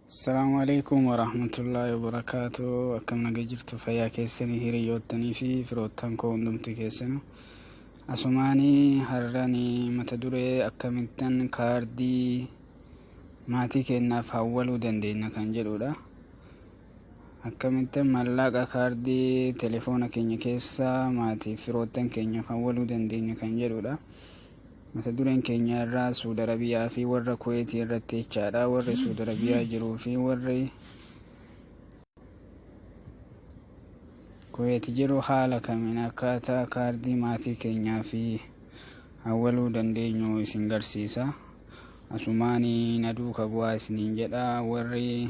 Assalaamu alaikum warahmatullaahi wabarakaatu akkam naga jirtu fayyaa keessanii hiriyoottanii fi firoottan koo hundumti keessanu asumaanii har'ani mata duree akkamittan kaardii maatii keennaaf hawwaluu dandeenya kan jedhudha akkamittan mallaqa kaardii telefoona keenya keessaa maatiif firoottan keenyaaf hawwaluu dandeenya kan jedhudha Mata dureen keenya irraa Suud Arabiyaa fi warra Kuweetii irratti jechaadha. Warri Suud Arabiyaa jiruu fi warri Kuweet jiru haala kamiin akkaataa kaardii maatii keenyaa fi hawwaluu dandeenyu isin garsiisa. Asumaanii na duuka bu'aa isiniin jedha warri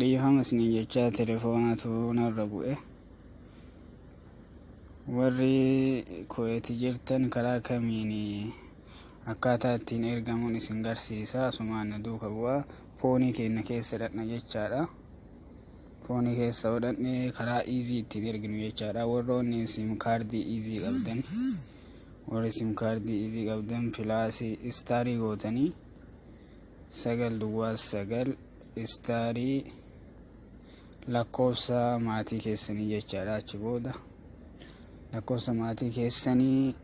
dhiifama isiniin jechaa telefoonatu narra bu'e warri kuweeti jirtan karaa kamiin akkaataa ittiin ergamuun isin garsiisa asumaan na duuka bu'a foonii keenya keessa dhaqna jechaadha foonii keessa hodhanne karaa iizii ittiin erginu jechaadha warroonni sim kaardii iizii qabdan warri sim kaardii iizii qabdan pilaasii istaarii gootanii sagal duwwaa sagal istaarii lakkoofsa maatii keessanii jechaadha achi booda lakkoofsa maatii keessanii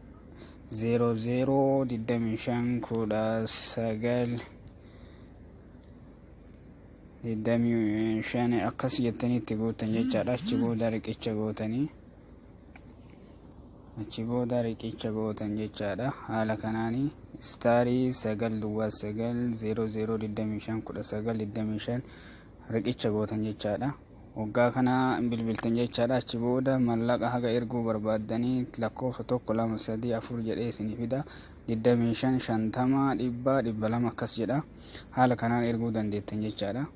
zeeroo zeeroo digdamii shan kudha sagal digdamii shan akkas jettanii itti gootan jechaadha achi booda riqicha gootanii achi booda riqicha gootan jechaadha haala kanaanii istaarii sagal duwwaa sagal zeeroo zeeroo digdamii shan kudha sagal digdamii shan riqicha gootan jechaadha waggaa kana bilbiltan jechaadha achi booda mallaqa haga erguu barbaaddanii lakkoofsa tokko lama sadii afur jedhee isinii fida digdamii shan shantama dhibbaa dhibba lama akkas jedha haala kanaan erguu dandeettan jechaadha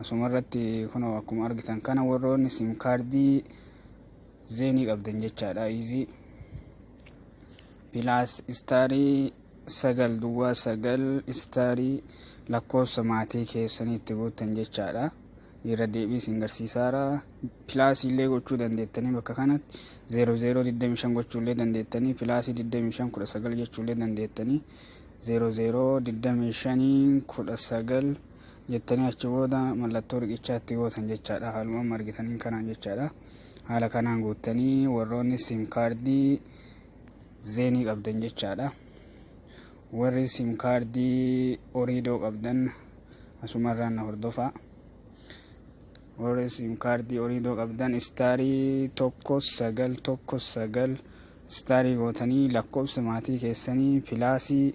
Asuma irratti kunoo akkuma argitan kana warroonni sim kaardii zeenii qabdan jechaadha iizii pilaas istaarii sagal duwwaa sagal istaarii lakkoofsa maatii keessanii itti guuttan jechaadha irra deebii isin garsiisaara pilaasii illee gochuu dandeettanii bakka kanatti 0025 gochuu illee dandeettanii pilaasii 25 19 jechuu illee dandeettanii 0025 19 jettanii achi booda mallattoo riqichaa itti gootan jechaadha haaluma amma argitaniin kanaan jechaadha haala kanaan guuttanii warroonni sim kaardii zeenii qabdan jechaadha warri sim kaardii oriidoo qabdan asumarraan na hordofaa warri sim kaardii oriidoo qabdan istaarii tokko sagal tokko sagal istaarii gootanii lakkoofsa maatii keessanii pilaasii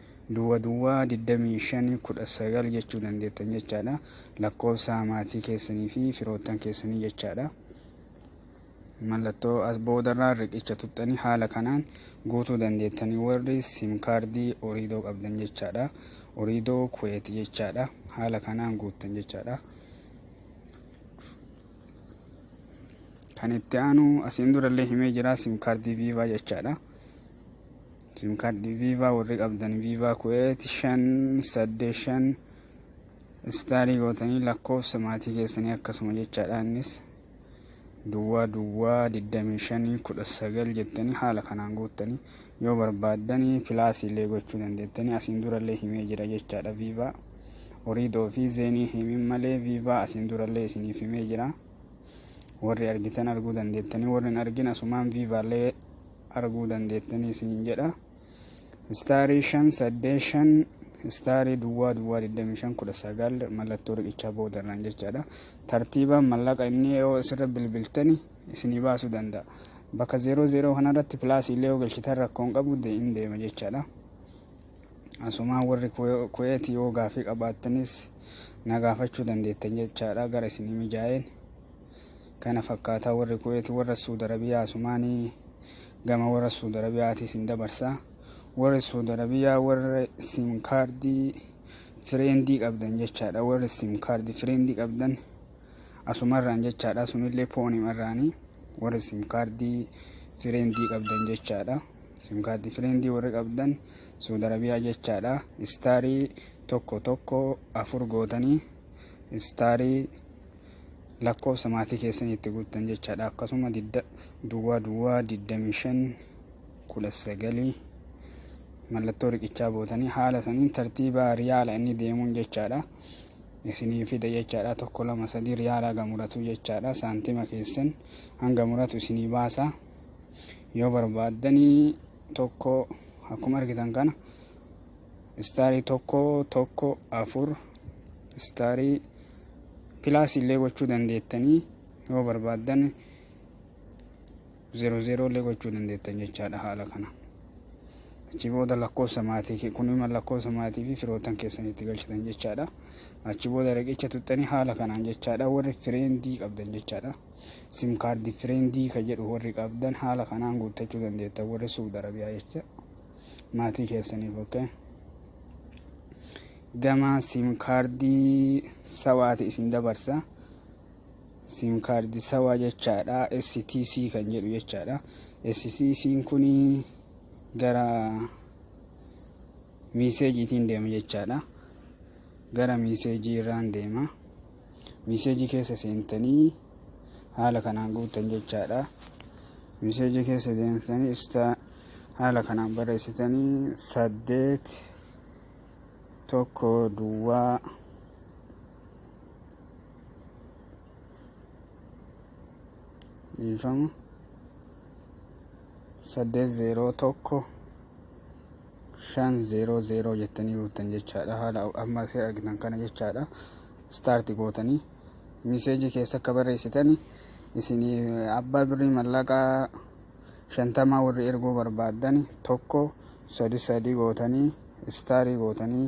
Duwwa duwwa 25 19 jechuu dandeettan jechaadha. Lakkoofsa maatii keessanii fi firoottan keessanii jechaadha. Mallattoo as boodarraa riqicha tuttanii haala kanaan guutuu dandeettanii warri sim kaardii oriidoo qabdan jechaadha. Oriidoo kuweeti jechaadha. Haala kanaan guuttan jechaadha. Kan itti aanu asiin durallee himee jira sim kaardii viivaa jechaadha. Sim card viva warri qabdan viva kuwait shan saddeet shan istaalii gootanii lakkoofsa maatii keessanii akkasuma jechaadha innis duwwaa duwwaa digdamii shanii kudha sagal jettanii haala kanaan guuttanii yoo barbaaddanii pilaasii illee gochuu dandeettanii asiin durallee himee jira jechaadha viivaa oriidoo fi zeenii himin malee viivaa asiin durallee isiniif himee jira. warri argitan arguu dandeettanii warri hin argin asumaan viivaallee arguu dandeettanii isin jedha istaarii shan saddee shan istaarii duwwaa duwwaa 25 19 mallattoo riqichaa boodarraan jechaadha tartiibaan mallaqa inni yoo isirra bilbiltani isinii baasuu danda'a bakka 00 kanarratti pilaasii illee yoo galchitan rakkoon qabu hin deema jechaadha. Asumaan warri Kuweet yoo gaafii qabaattanis na gaafachuu dandeettan jechaadha gara isinii mijaa'een. Kana fakkaataa warri Kuweet warra Suud Arabiyaa asumaanii gama warra Suud Arabiyaati isin dabarsa. Warri Suud Arabiyaa warra sim kaardii fireendii qabdan jechaadha. Warri sim kaardii fireendii qabdan asumarraan jechaadha. Sunillee poonimarraani warri sim kaardii fireendii qabdan jechaadha. simkaardii fireendii warri qabdan suud arabiyaa jechaadha istaarii tokko tokko afur gootanii istaarii lakkoofsa maatii keessanii itti guuttan jechaadha akkasuma duwwaa duwwaa 25 19 mallattoo riqichaa bootanii haala saniin tartiibaa riyaala inni deemuun jechaadha isinii fida jechaadha tokko lama sadii riyaala hanga muratu jechaadha saantima keessan hanga muratu isinii baasa Yoo barbaaddanii tokko akkuma argitan kana istaarii tokko tokko afur istaarii pilaas illee gochuu dandeettanii yoo barbaaddan zeeroo zeeroo illee gochuu dandeettan jechaadha haala kana. Achi booda lakkoofsa maatii kun immoo lakkoofsa maatii fi firootan keessan itti galchitan jechaadha. Achi booda riqicha tuttanii haala kanaan jechaadha warri fireendii qabdan jechaadha. sim kaardii fireendii ka jedhu warri qabdan haala kanaan guuttachuu dandeettan warri suud arabiyaa jecha maatii keessaniif okkee gama sim kaardii sawaati isin dabarsa sim kaardii sawaa jechaadha stc kan jedhu jechaadha stc kun gara miiseejiitiin deema jechaadha gara miiseejii irraan deema Miseejii keessa seentanii haala kanaan guuttan jechaadha. Miseejii keessa deemtanii ista haala kanaan barreessitanii saddeet tokko duwwaa dhiifama saddeet zeeroo tokko 500 jettanii guuttan jechaadha haala amma asii argitan kana jechaadha staarti gootanii miseejii keessa akka barreessitan isin abbaa birrii mallaqaa shantamaa warri erguu barbaaddan tokko sadi sadi gootanii istaarii gootanii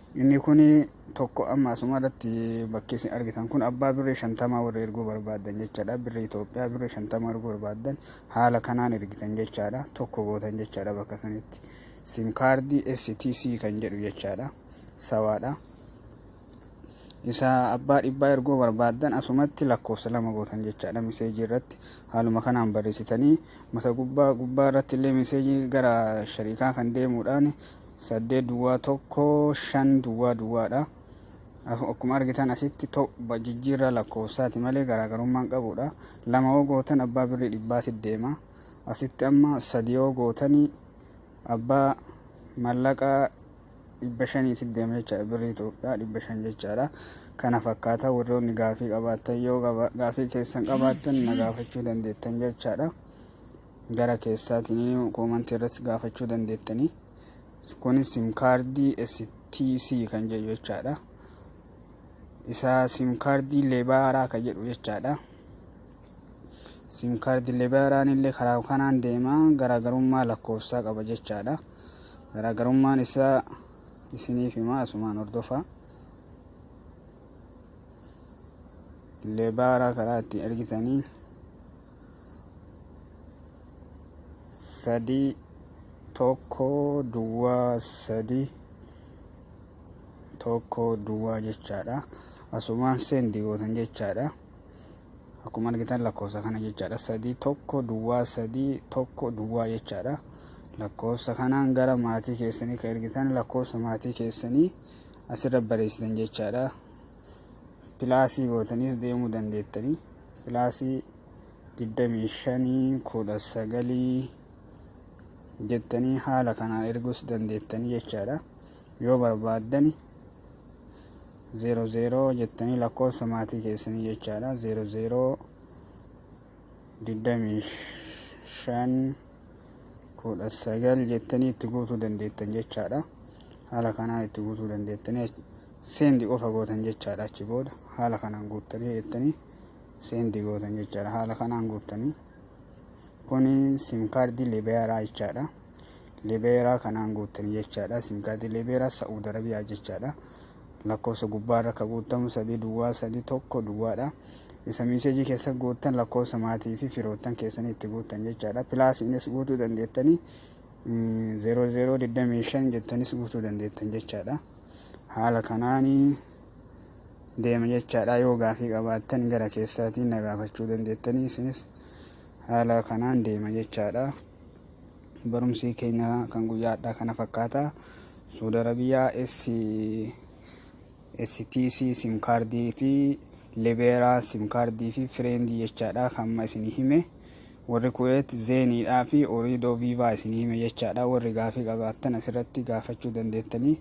Inni kun tokko amma asuma irratti bakki isin argitan kun abbaa birrii shantamaa warri erguu barbaaddan jechaadha. Birrii Itoophiyaa birrii shantama erguu barbaaddan haala kanaan ergitan jechaadha. Tokko gootan jechaadha bakka sanitti. Sim kaardii STC kan jedhu jechaadha. Sawaadha. Isa abbaa dhibbaa erguu barbaaddan asumatti lakkoofsa lama gootan jechaadha miseejii irratti haaluma kanaan barreessitanii mata gubbaa gubbaa irratti illee miseejii gara shariikaa kan deemuudhaan 8 duwwaa 1 5 duwwaa duwwaadha. Akkuma argitan asitti tobba jijjiirraa lakkoofsaati malee garaagarummaan qabuudha. Lama yoo gootan abbaa birrii dhibbaati deema. Asitti amma sadi yoo gootanii abbaa mallaqaa dhibba shaniiti deema jechaadha. Birrii Itoophiyaa dhibba shan jechaadha. Kana fakkaataa warroonni gaafii qabaattan yoo gaafii keessan qabaattan na gaafachuu dandeettan jechaadha. gara keessaatiin koomantii irratti gaafachuu dandeettanii kunis sim kaardii STC kan jedhu jechaadha isa sim kaardii leebaaraa kan jedhu jechaadha sim kaardii leebaaraan illee karaa kanaan deemaa garaagarummaa lakkoofsaa qaba jechaadha garaagarummaan isaa isiniif himaa asumaan hordofaa leebaaraa karaa ittiin ergitanii sadii tokko duwwaa sadii tokko duwwaa jechaadha asumaan seendi gootan jechaadha akkuma argitan lakkoofsa kana jechaadha sadii tokko duwwaa sadii tokko duwwaa jechaadha lakkoofsa kanaan gara maatii keessanii kan ergitan lakkoofsa maatii keessanii asirra barreessitan jechaadha pilaasii gootaniis deemuu dandeettanii pilaasii digdamii shanii kudha sagalii jettanii haala kanaan erguus dandeettanii jechaadha yoo barbaaddani zeero zeeroo jettanii lakkoofsa maatii keessanii jechaadha zeero zeeroo digdamii shan kudha sagal jettanii itti guutuu dandeettan jechaadha haala kanaan itti guutuu dandeettanii send qofa gootan jechaadha achi booda haala kanaan guuttanii jettanii send gootan jechaadha haala kanaan guuttanii kuni sim kaardii libeeraa jechaadha libeeraa kanaan guuttanii jechaadha sim kaardii libeeraa sa'uud arabiyaa jechaadha lakkoofsa gubbaa irra akka guuttamu sadii duwwaa sadii tokko duwwaadha isa miiseejii keessa guuttan lakkoofsa maatii fi firoottan keessanii itti guuttan jechaadha pilaasiinis guutuu dandeettanii 0025 jettanis guutuu dandeettan jechaadha. haala kanaanii deema jechaadha yoo gaafii qabaattan gara keessaatiin na gaafachuu dandeettanii isinis haala kanaan deema jechaadha barumsii keenya kan guyyaadha kana fakkaata suudi arabiyaa stc sim kaardii fi libeeraa sim kaardii fi fireendii jechaadha hamma isin hime Warri Kuweet Zeenii dhaa fi Oriidoo Viivaa isinii hime jechaa dha. Warri gaafii qabaattan asirratti gaafachuu dandeettanii.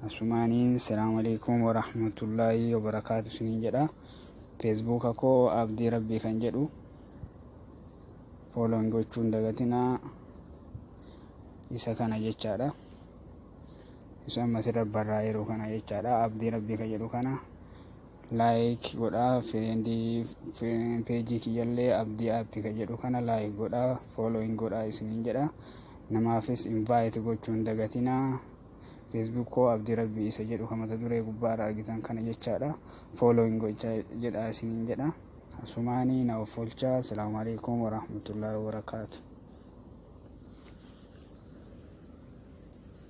Asumaaniin Selaamaleeykum Warahmatullaahii Wabarakaatu isiniin jedha. Feesbuuka koo Abdii Rabbii kan jedhu fooloon gochuun dagatinaa isa kana jechaa dha. Isa amma sirra barraa'eeru kana jechaa dha. Abdii Rabbii kan jedhu kana. like godhaa friendii page kiyyallee abdii app ka jedhu kana like godhaa following godhaa isiniin jedha namaafis invite gochuun dagatinaa facebook koo abdii rabbii isa jedhu ka mata duree gubbaarra argitan kana jechaadha following gochaa jedhaa isiniin jedha asumaanii na offolchaa asalaamu alaikum warahmatullaahi wabarakaatu